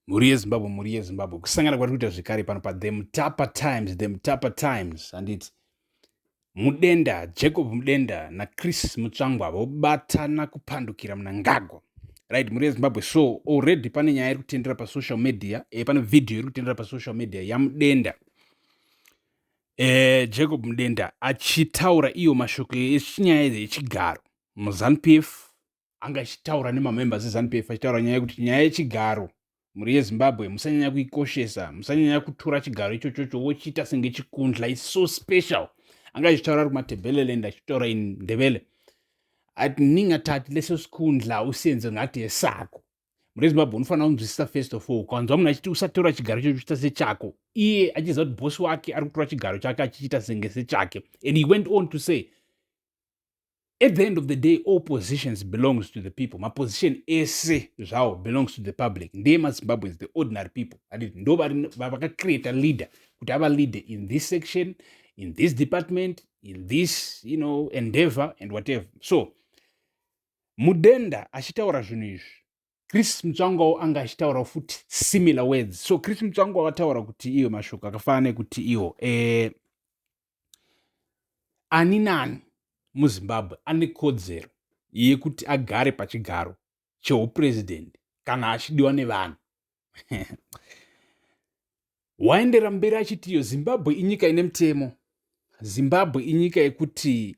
mhuri yezimbabwe mhuri yezimbabwe kusangana kwari kuita zvekare pano pathe mutapa times the mutapa times handiti mudenda jacob mudenda nachris mutsvangwa vobatana kupandukira munangagwa right mhuri yezimbabwe so already pane nyaya iri kutendera pasocial media e, pane vhidhiyo iri kutendera pasocial media yamudenda e, jacob mudenda achitaura iyo mashoko echinyaya yechigaro muzanupf anga achitaura nemamembers ezanupf achitaura nyaya yekuti nyaya yechigaro mhuri yezimbabwe musanyanya kuikoshesa musanyanya kutura chigaro ichochocho wochiita senge chikundla is so special anga achitaura ari kumatebeleland achitaura in ndevele ati ninga tati leso sikundla usenze ngati yesako mhuri yezimbabwe unofanira kunzwisisa first of all ukanzwa munhu achiti usatora chigaro ichocho chiita sechako iye achiziva kuti bosi wake ari kutora chigaro chake achichiita senge sechake and he went on to say at the end of the day all positions belongs to the people maposition ese zvawo belongs to the public ndiye mazimbabweans the ordinary people aditi ndo vakacreata leader kuti ava leader in this section in this department in this you know endeavor and whatever so mudenda achitaura zvinhu izvi chris mutsvangwawo anga achitaurawo futi similar words so chris mutsvangwawo ataura kuti iyo mashoko akafanana nekuti iwo eh, ani nani muzimbabwe ane kodzero yekuti agare pachigaro cheupurezidendi kana achidiwa nevanhu waendera mberi achiti iyo zimbabwe inyika ine mutemo zimbabwe inyika yekuti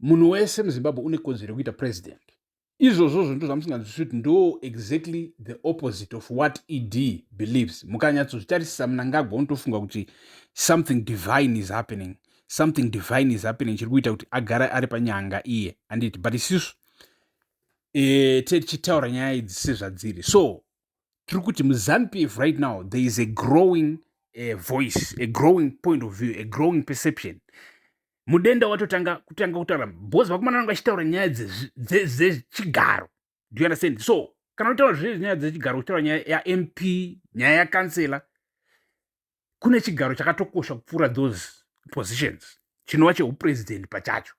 munhu wese muzimbabwe une kodzero yekuita president izvozvo zvinhu zvamusinganzwisisi kuti ndo exactly the opposite of what ed believes mukanyatsozvitarisisa munangagwa unotofunga kuti something divine is happening something divine is happening chiri kuita kuti agara ari panyanga iye anditi but isisu e, eh, tichitaura nyaya idzi sezvadziri so tiri kuti muzanu p f right now there is a growing a eh, voice a growing point of view a growing perception mudenda watotanga kutanga kutaura bhozi vakomana vanga vachitaura nyaya dzechigaro do you understand so kana utaura zve nyaya dzechigaro uchitaura nyaya yamp nyaya yakansela kune chigaro chakatokosha kupfuura those positions chinova cheupresident pachacho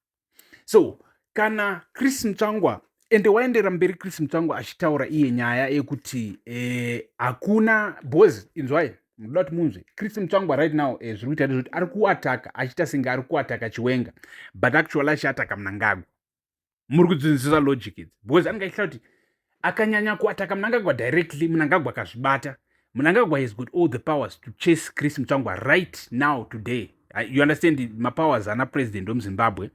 so kana chris mutsvangwa ende waendera mberi chris mutsvangwa achitaura iye nyaya yekuti eh, hakuna bhozi inzwai munoda kuti munzwe chris mutsvangwa right now eh, zviri kuita ndezvekuti ari kuataka achiita senge ari kuataka chiwenga but actually achiataka munangagwa muri kudzinzisa logic idzi because anenge achita kuti akanyanya kuataka munangagwa directly munangagwa akazvibata munangagwa has got all the powers to chase chris mutsvangwa right now today Ah, you understand mapowers ana president wemuzimbabwe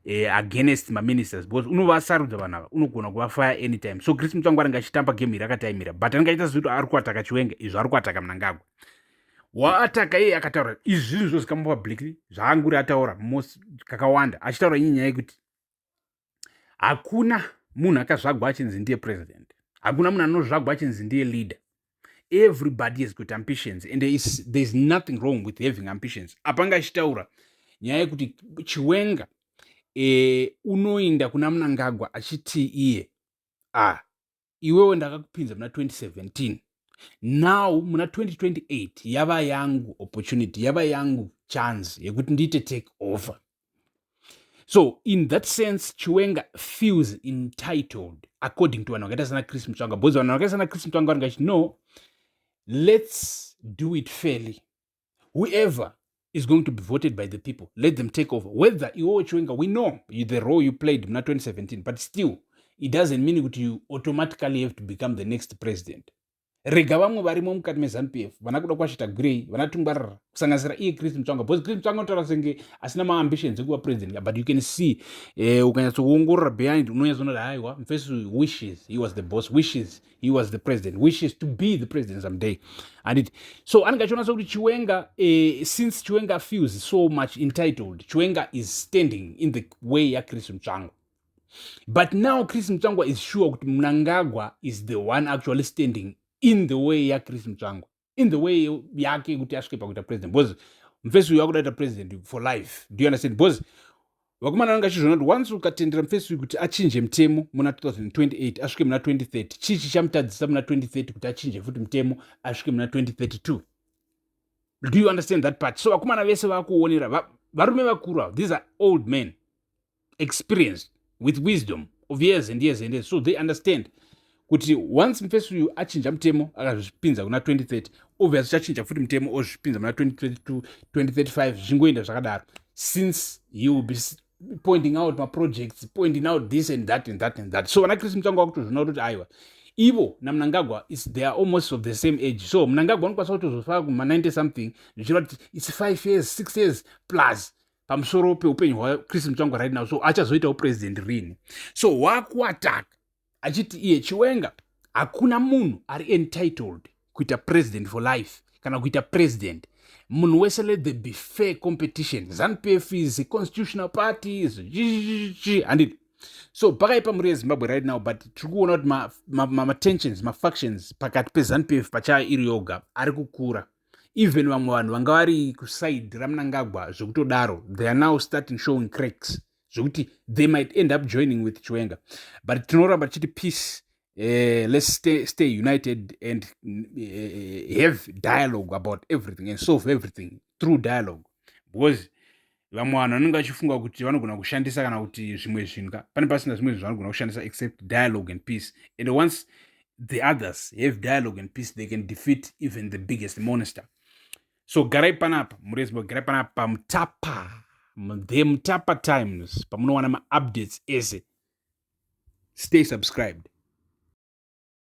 eh, against maministers because unovasarudza vanhu ava unogona kuvafaya anytime so chris mutsvangu anenge achitamba game iri akataimira but anenge aita zekuti ari kuataka chiwenga izvo ari kuataka mnangagwa waataka iye akataura izvi zvinhu zvozikamwa publicly zvaanguri ataura kakawanda achitaura inye nyaya yekuti hakuna munhu akazvagwa achinzi ndiye president hakuna munhu anozvagwa achinzi ndiye leader everybody has got ambitions and there is, there is nothing wrong with having ambitions apanga achitaura nyaya yekuti chiwenga e, unoinda kuna munangagwa achitii iye ah iwewe ndakakupinza muna 2017 now muna 2028 yava yangu opportunity yava yangu chance yekuti ndiite take over so in that sense chiwenga feels entitled according to vanhu vakaita sana chris mutsvanga because vanhu vakaita sana chris mutsvanga vanhu vachiti no let's do it fairly whoever is going to be voted by the people let them take over whether iwowo chiwenga we know you, the role you played muna 2017 but still it doesn't mean kuti you automatically have to become the next president rega vamwe varimo mukati mezanup f vana kuda kwashita gwirei vana tungwarira kusanganisira iye chris mutsvanga because chris mutsvanga unotaura senge asina maambitions ekuva president but you can see eh, ukanyatsokuongorora behind unonyatsoona kuti haiwa mfesi wishes he was the boss wishes he was the president wishes to be the president someday handiti so anenge achiona sekuti chiwenga uh, since chiwenga feels so much entitled chiwenga is standing in the way yachris mutsvangwa but now chris mutsvangwa is sure kuti mnangagwa is the one actually standing in the way yachris mutsvangwa in the way yake yekuti asvike pakuita president because mfesi uyu akudaita president for life do you understand because vakomana vanenge achizviona kuti once ukatendera mfesi uyu kuti achinje mutemo muna 2028 asvike muna 2030 chii chichamutadzisa muna 2030 kuti achinje futi mutemo asvike muna 2032 do you understand that part so vakomana vese vakuonera varume vakuru avo these are old men experience with wisdom of years and years and years so they understand kuti once mufesi uyu achinja mutemo akazvipinza kuna 2030 obvious uchachinja futi mutemo ozvipinza muna 2032 2035 zvichingoenda zvakadaro since he will be pointing out maprojects pointing out this and that and that and that so vana chris mutsvango vakutozvina kutoti aiwa ivo namunangagwa they are almost of the same age so munangagwa anokwanisa kutozofaka kuma 90 something zvichireva kuti its five years six years plus pamusoro peupenyu hwachris mutsvangwa right now so achazoitawo president rini so wakuataka achiti iye chiwenga hakuna munhu ari entitled kuita president for life kana kuita president munhu wese let the be fair competition zanupf is a constitutional party zvichichichi handiti so pakaipa mhuri yezimbabwe right now but tiri kuona kuti matensions ma, ma mafactions pakati pezanupf pachayo iri yoga ari kukura even vamwe vanhu vanga vari kuside ramnangagwa zvekutodaro they are now starting showing cracks zvekuti they might end up joining with chiwenga but tinoramba tichiti peace uh, let's stay, stay united and uh, have dialogue about everything and solve everything through dialogue because vamwe vanhu vanenge vachifunga kuti vanogona kushandisa kana kuti zvimwe zvinhu ka pane pasina zvimwe zvinhu vanogona kushandisa except dialogue and peace and once the others have dialogue and peace they can defeat even the biggest monster so garai panapa murezimbabwe garai panapa pamutapa the mutapa times pamunowana maupdates ese stay subscribed